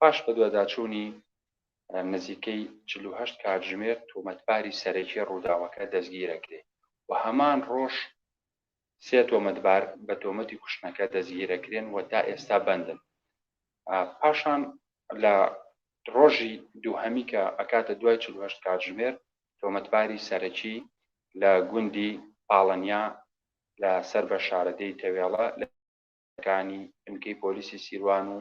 پاش بەدواداچوونی نزیکەی چل و هەشت کاتژمێر تۆمەتباری سەرەکی ڕووداوەکە دەستگیرەکرێ و هەمان ڕۆژ سێ تۆمەتبار بە تۆمەتی کوشتنەکە دەستگیرەکرێن و تا ئێستا بەندن پاشان لە ڕۆژی دووهەمی کە ئەکاتە دوای چل و هەشت کاتژمێر تۆمەتباری سەرەکی لە گوندی پاڵەنیا لە سەر بە شارەدێی تەوێڵە لە کانی بنکەی پۆلیسی سیروان و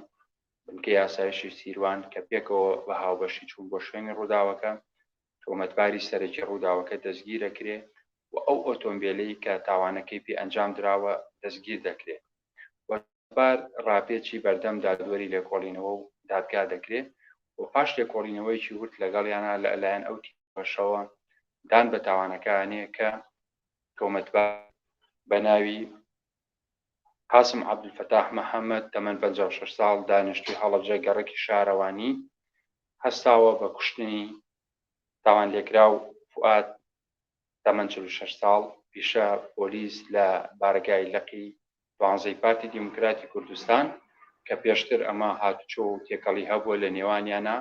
بنکەی ئاسایشی سیروان کە پێکەوە بە هاوبەشی چوون بۆ شوێنی ڕووداوەکە، تۆمەتباری سەرەکی ڕووداوەکە دەستگیردەکرێ و ئەو ئۆتۆمبێلەی کە تاوانەکەی پێ ئەنجامدراوە دەستگیردەکرێ و سوار ڕاپێچی بەردەم دادوەری لێکۆڵینەوە و دادگا دەکرێ و پاش لێکۆڵینەوەیەکی ورد لەگەڵیانا لە لایەن ئەو تیمەشەوە دان بە تاوانەکە ئەنێ کە تۆمەتبار بە ناوی قاسم عەبدولفەتاح محەمەد، تەمەن پەنجا و شەش ساڵ، دانیشتووی هەڵەبجە گەڕەکی شارەوانی، هەستاوە بە کوشتنی تاوانلێکراو فوئاد، تەمەن چل و شەش ساڵ، پیشە پۆلیس لە بارەگای لقی دوانزەی پارتی دیموکراتی کوردستان کە پێشتر ئەمە هاتوچۆ و تێکەڵی هەبووە لە نێوانیانا،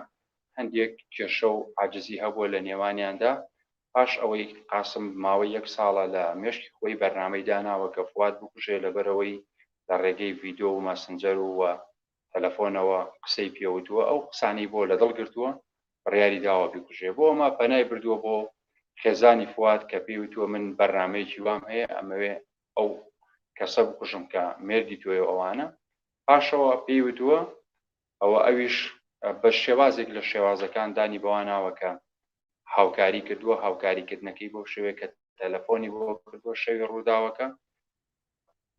هەندێک کێشە و عاجزی هەبووە لە نێوانیاندا، پاش ئەوەی قاسم ماوەی یەک ساڵە لە مێشکی خۆی بەرنامەی داناوە کە فواد بکوژێ لەبەرئەوەی لە ڕێگەی ڤیدۆ و ماسنجەر و وە تەلەفۆنەوە قسەی پێوتووە ئەو قسانەی بۆ لەدڵ گرتووە بڕیاری داوە بیکوژێ بۆ ئەمە پەنای بردووە بۆ خێزانی فواد کە پێی وتووە من بەرنامەیەکی وام هەیە ئەمەوێ ئەو کەسە بکوژم کە مێردی تۆیەو ئەوانە پاشەوە پێی وتووە و ئەویش بە شێوازێک لە شێوازەکان دانی بەوە ناوە کە هاوکاری کردووە، هاوکاریکردنەکەی بەو شێوەیە کە تەلەفۆنی بۆ کردووە شەوی ڕووداوەکە،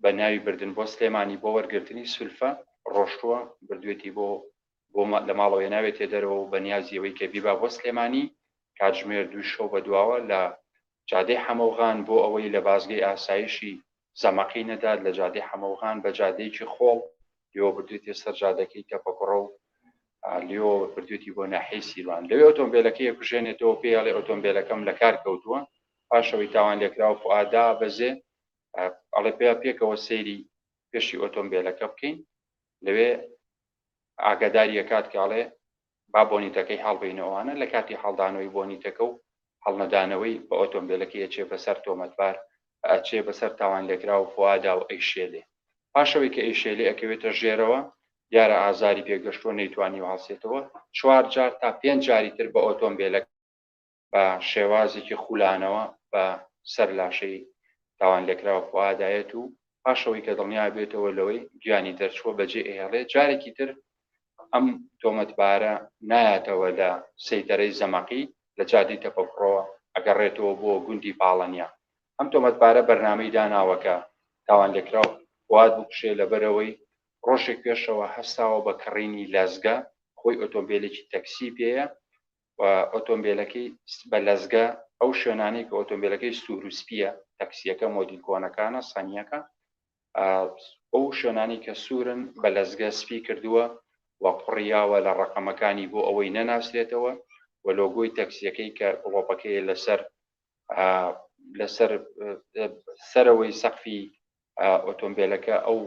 بە ناوی بردن بۆ سلێمانی بۆ وەرگرتنی سولفە ڕۆشتووە، بردوویەتی بۆ بۆ لە ماڵەوە هێناوێتیە دەرەوە و بە نیازی ئەوەی کە بیبا بۆ سلێمانی کاتژمێر دووی شەو بەدواوە لە جادەی حەمەوغان بۆ ئەوەی لە بازگەی ئاسایشی زەمەقی نەدات لە جادەی حەمەوغان بە جادەیەکی خۆڵ لێوە بردوێتێ سەر جادەکەی تەپەکوڕە و لێۆ بردوێتی بۆ ناحەی سیروان لەوێ ئۆتۆمبیلەکەی کوژێنێتەوە پێ هەڵێ ئۆتۆمبیلەکەم لە کار کەوتووە پاشەوەی تاوان لێکراوە فعادا بەزێ ئەڵێ پێ پێکەوە سەیری پێشی ئۆتۆمبیلەکە بکەین لەوێ ئاگاداریەکات کاڵێ با بۆنیتەکەی هەڵبەینەوە ئەوانە لە کاتی هەڵدانەوەی بۆنیتەکە و هەڵنەدانەوەی بە ئۆتۆمبێلەکەی ئەچێ بەسەر تۆمەتبار ئەچێ بەسەر تاوانلێکراو فوئادا و ئەیشێلێ پاش ئەوەی کە ئەیشێلێ ئەکەوێتە ژێرەوە دیارە ئازاری پێگەشتووە نەیتوانیوە هەڵسێتەوە چوار جار تا پێنج جاری تر بە ئۆتۆمبێلەکە بە شێوازێکی خولانەوە بە سەر لاشەی تاوانلێکراو فوئادا یەت و پاش ئەوەی کە دڵنیا ئەبێتەوە لەوەی گیانی دەرچووە بەجێ ئەهێڵێت، جارێکی تر ئەم تۆمەتبارە نایاتەوە لە سەیتەرەی زەمەقی لە جادەی تەپەکوڕەوە ئەگەڕێتەوە بۆ گوندی پاڵەنیا. ئەم تۆمەتبارە بەرنامەی داناوە کە تاوانلێکراو فوئاد بکوژێ لەبەرئەوەی ڕۆژێک پێشەوە هەستاوە بە کڕینی لەزگە، خۆی ئۆتۆمبێلێکی تەکسی پێیە و ئۆتۆمبێلەکەی بە لەزگە ئەو شوێنانەی کە ئۆتۆمبێلەکەی سوور و سپیە تەکسیەکە مۆدیل کۆنەکانە سەنیەکە ئەو شوێنانی کە سوورن بە لەزگە سپی کردووە و قڕیاوە لە ڕقەمەکانی بۆ ئەوەی نەناسرێتەوە و لۆگۆی تەکسیەکەی کە گڵۆپەکەی لەسەر لەسەر سەرەوەی سەقفی ئۆتۆمبێلەکە ئەو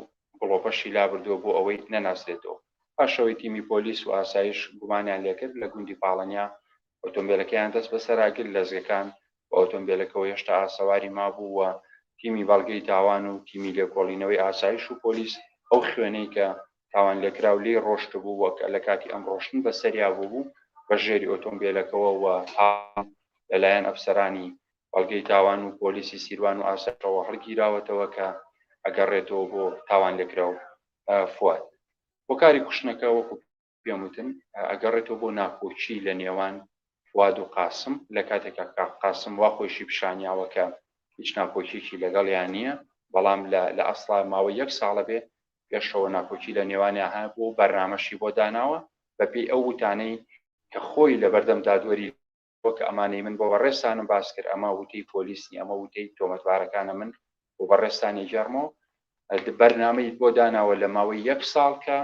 گڵۆپەشی لابردووە بۆ ئەوەی نەناسرێتەوە. پاشەوەی تیمی پۆلیس و ئاسایش گومانیان لێکرد لە گوندی پاڵەنیا ئۆتۆمبێلەکەیان دەستبەسەرا، گرت لەزگەکان بە ئۆتۆمبێلەکەوە هێشتا ئاسەواری مابوو و تیمی بەڵگەی تاوان و تیمی لێکۆڵینەوەی ئاسایش و پۆلیس ئەو خوێنەی کە تاوانلێکراو لێی ڕۆشتبوو و لەکاتی ئەم ڕۆشتن بەسەریا بووبوو بەژێری ئۆتۆمبێلەکەوە و هاتن لەلایەن ئەفسەرانی بەڵگەی تاوان و پۆلیسی سیروان و ئاسایشەوە هەڵگیراوەتەوە کە ئەگەڕێتەوە بۆ تاوانلێکراو فواد. هۆکاری کوشتنەکە وەکو پێم وتن ئەگەڕێتەوە بۆ ناکۆکی لە نێوان فواد و قاسم لە کاتێکا کە قاسم وا خۆیشی پیشانیاوە کە هیچ ناکۆکیەکی لەگەڵیان نییە بەڵام لە لە ئەسڵا ماوەی یەک ساڵە بێ پێشەوە ناکۆکی لە نێوانیان هەبوو و بەرنامەشی بۆ داناوە بەپێی ئەو وتانەی کە خۆی لەبەردەم دادوەری وەک ئەمانەی من بۆ بەڕێزتانم باس کرد، ئەمە وتەی پۆلیس نییە، ئەمە وتەی تۆمەتبارەکانە من بۆ بەڕێزتان ئەگێڕمەوە. بەرنامەی بۆ داناوە لە ماوەی یەک ساڵ کە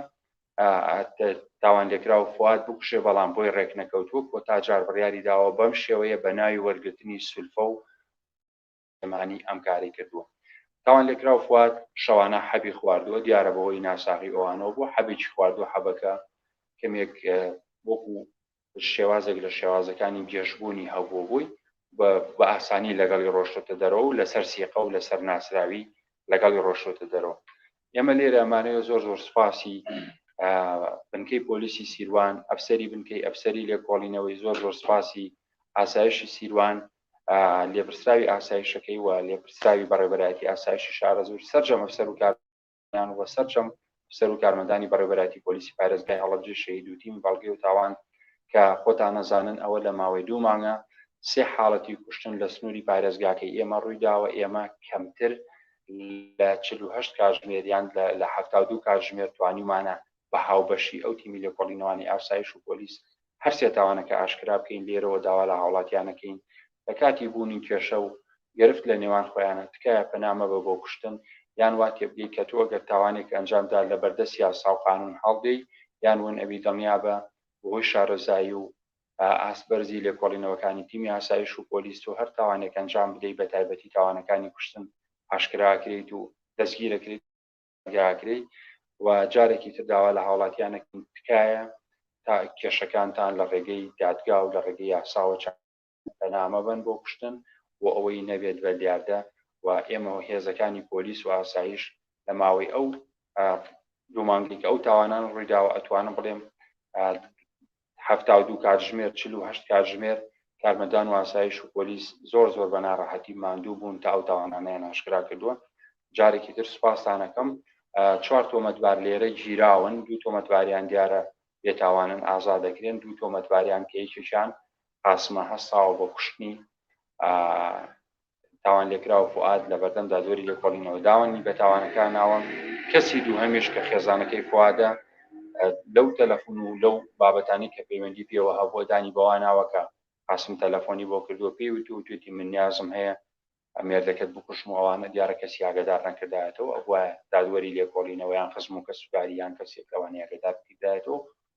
تاوانلێکراو فواد بکوژێ، بەڵام بۆی ڕێکنەکەوتووە، کۆتا جار بڕیاری داوە بەم شێوەیە بە ناوی وەرگرتنی سولفە و سلێمانی ئەم کارەی کردووە. تاوانلێکراو فواد شەوانە حەبی خواردووە، دیارە بەهۆی ناساغی ئەوانەوە بووە، حەبێکی خواردووە، حەبەکە کەمێک وەکو شێوازێک لە شێوازەکانی گێژبوونی هەبووە بووی و بە ئاسانی لەگەڵی ڕۆشتووەتە دەرەوە و لەسەر سیقە و لەسەر ناسراوی لەگەڵی ڕۆشتووەتە دەرەوە. ئێمە لێرە ئەمانەوێ زۆر زۆر سوپاسی بنکەی پۆلیسی سیروان، ئەفسەری بنکەی ئەفسەری لێکۆڵینەوەی، زۆر زۆر سوپاسی ئاسایشی سیروان، لێپرسراوی ئاسایشەکەی و لێپرسراوی بەڕێبەرایەتی ئاسایشی شارەزوور سەرجەم ئەفسەر و کارمەندان و سەرجەم ئەفسەر و کارمەندانی بەڕێبەرایەتی پۆلیسی پارێزگای هەڵەبجەی شەهید و تیم بەڵگەی و تاوان کە خۆتان نەزانن ئەوە لە ماوەی دوو مانگە سێ حاڵەتی کوشتن لە سنووری پارێزگاکەی ئێمە ڕووی داوە ئێمە کەمتر لە چل و هەشت کاتژمێر یان لە حەفتا و دوو کاتژمێر توانیومانە بە هاوبەشی ئەو تیمی لێکۆڵینەوانی ئاسایش و پۆلیس هەر سێ تاوانەکە ئاشکرا بکەین، لێرەوە داوا لە هاوڵاتیان ئەکەین لە کاتی بوونی کێشە و گرفت لە نێوان خۆیانا تکایە پەنا مەبە بۆ کوشتن یان وا تێبگەی کە تۆ گەر تاوانێک ئەنجام دا لە بەردەست یاسا و قانون هەڵدێی یان ون ئەبی دڵنیابە بەهۆی شارەزایی و ئاست بەرزی لێکۆڵینەوەکانی تیمی ئاسایش و پۆلیس تۆ هەر تاوانێک ئەنجام بدەی بە تایبەتی تاوانەکانی کوشتن ئاشکرا ئەکرێیت و دەستگیر ئەکرێیت. داگرێی و جارێکی تر داوا لە هاوڵاتیان ئەکەین تکایە تا کێشەکانتان لە ڕێگەی دادگا و لە ڕێگەی یاساوە چارەسەر بکەن پەنا مەبەن بۆ کوشتن بۆ ئەوەی نەبێت بە دیاردە و ئێمە و هێزەکانی پۆلیس و ئاسایش لە ماوەی ئەو دوو مانگەی کە ئەو تاوانانە ڕوویداوە ئەتوانم بڵێم حەفتا و دوو کاتژمێر، چل و هەشت کاتژمێر، کارمەندان و ئاسایش و پۆلیس زۆر زۆر بە ناڕەحەتی ماندوو بوون تا ئەو تاوانانەیان ئاشکرا کردووە. جارێکی تر سوپاستان ئەکەم. چوار تۆمەتبار لێرە گیراون، دوو تۆمەتباریان دیارە بێتاوانن ئازاد دەکرێن، دوو تۆمەتباریان کە یەکێکیان قاسمە هەستاوە بە کوشتنی تاوانلێکراو فوئاد لە بەردەم دادوەری لێکۆڵینەوە داوەنی بە تاوانەکە ناوە، کەسی دووهەمیش کە خێزانەکەی فوئادە لەو تەلەفون و لەو بابەتانی کە پەیوەندی پێوە هەبووە دانی بەوە ناوە کە قاسم تەلەفۆنی بۆ کردووە پێی وت و توێتی من نیازم هەیە مێردەکەت بکوشم و ئەوانە دیارە کەسی ئاگادار نەکردایەتەوە ئەبوایە دادوەری لێکۆڵینەوەیان خزم و کەسوکاری یان کەسێک لەوانەیە ئاگادار بکردایەتەوە